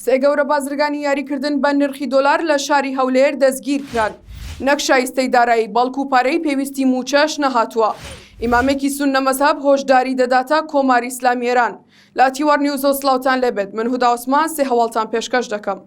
سێ گەورە بازرگانی یاریکردن بە نرخی دۆلار لە شاری هەولێر دەستگیرکران، نەک شایستەی دارایی بەڵکو پارەی پێویستی مووچەش نەهاتووە، ئیمامێکی سوننە مەزهەب هۆشداری دەداتە کۆماری ئیسلامی ئێران. لە تیوار نیوزەوە سڵاوتان لێ بێت، من هودا عوسمان سێ هەواڵتان پێشکەش دەکەم.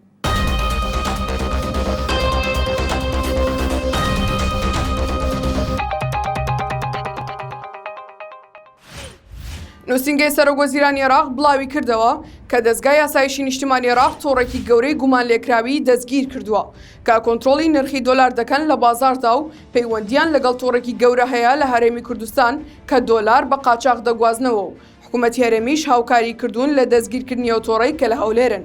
نووسینگەی سەرۆک وەزیرانی عێراق بڵاوی کردەوە کە دەزگای ئاسایشی نیشتمانی عێراق تۆڕێکی گەورەی گومانلێکراوی دەستگیر کردووە کە کۆنترۆڵی نرخی دۆلار دەکەن لە بازاڕدا و پەیوەندییان لەگەڵ تۆڕێکی گەورە هەیە لە هەرێمی کوردستان کە دۆلار بە قاچاخ دەگوازنەوە و حکوومەتی هەرێمیش هاوکاریی کردوون لە دەستگیرکردنی ئەو تۆڕەی کە لە هەولێرن.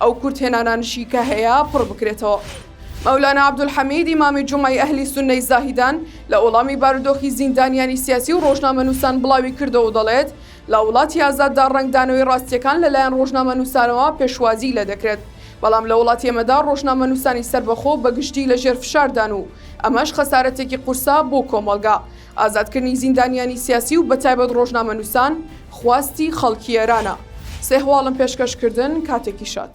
ئەو کورتهێنانانشی کە هەیە پڕ بکرێتەوە. مەولانا عەبدولحەمید ئیمامی جومعەی ئەهلی سوننەی زاهیدان لە وەڵامی بارودۆخی زیندانیانی سیاسی و ڕۆژنامەنووسان بڵاوی کردەوە و دەڵێت، لە وڵاتی ئازاددا ڕەنگدانەوەی ڕاستییەکان لەلایەن ڕۆژنامەنووسانەوە پێشوازیی لێ دەکرێت، بەڵام لە وڵاتی ئێمەدا ڕۆژنامەنووسانی سەربەخۆ بەگشتی لەژێر فشاردان و ئەمەش خەسارەتێکی قورسە بۆ کۆمەڵگا. ئازادکردنی زیندانیانی سیاسی و بەتایبەت ڕۆژنامەنووسان خواستی خەڵکی ئێرانە. سێ هەواڵم پێشکەش کردن، کاتێکی شاد.